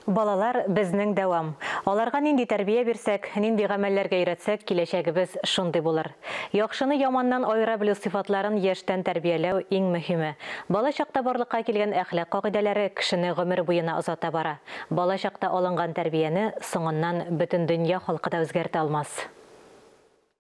Балалар, безнең дәвам. Аларга нинди тәрбия бирсәк, нинди гамәлләргә өйрәтсәк, киләчәгебез шундый булыр. Яхшыны яманнан аера белү сыйфатларын яшьтән тәрбияләү, иң мөһиме. Бала чакта барлыкка килгән әхлак кагыйдәләре кешене гомер буена озата бара. Бала чакта алынган тәрбияне соңыннан бөтен дөнья халкы да үзгәртә алмас.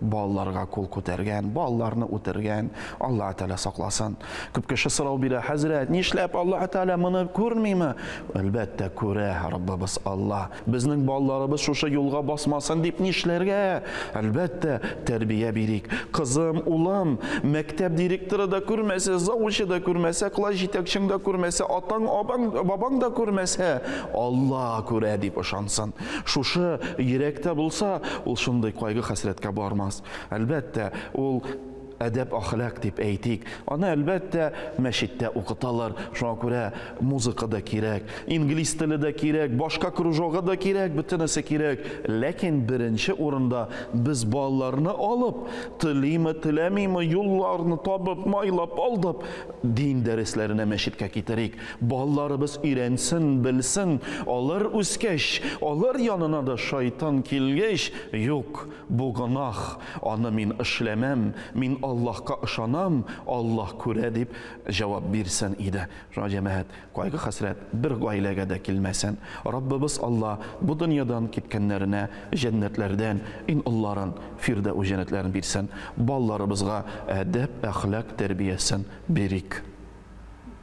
балаларга кул күтәргән, балаларны үтергән, Аллаһ Тәгалә сакласын. Күп кеше сорау бирә, хәзрәт, нишләп Аллаһ Тәгалә моны күрмиме? Әлбәттә, күрә Раббыбыз Алла. Безнең балаларыбыз шушы юлга басмасын дип нишләргә? Әлбәттә, тәрбия бирик. Кызым, улым, мәктәп директоры да күрмәсә, завучы да күрмәсә, класс җитәкчең да күрмәсә, атаң, абаң, бабаң да күрмәсә, Алла күрә дип ышансын. Шушы йөрәктә булса, ул шундый кайгы-хәсрәткә бармас. Әлбәттә, ул әдәп-ахлак дип әйтик. Аны, әлбәттә, мәчеттә укыталар. Шуңа күрә музыка да кирәк, инглиз теле дә кирәк, башка кружогы да кирәк, бөтенесе кирәк. Ләкин беренче урында без балаларны алып, телиме-теләмиме, юлларны табып, майлап-алдап, дин дәресләренә мәчеткә китерик. Балаларыбыз өйрәнсен, белсен, алар үскәч, алар янына да шайтан килгәч, Юк, бу гөнаһ, аны мин эшләмәм, мин Аллаһка ышанам, Аллаһ күрә, дип җавап бирсен иде. Шуңа, җәмәгать, кайгы-хәсрәт бер гаиләгә дә килмәсен. Раббыбыз Алла бу дөньядан киткәннәренә җәннәтләрдән иң олыларын, фирдәүс җәннәтләрен бирсен. Балаларыбызга әдәп, әхлак тәрбиясен бирик.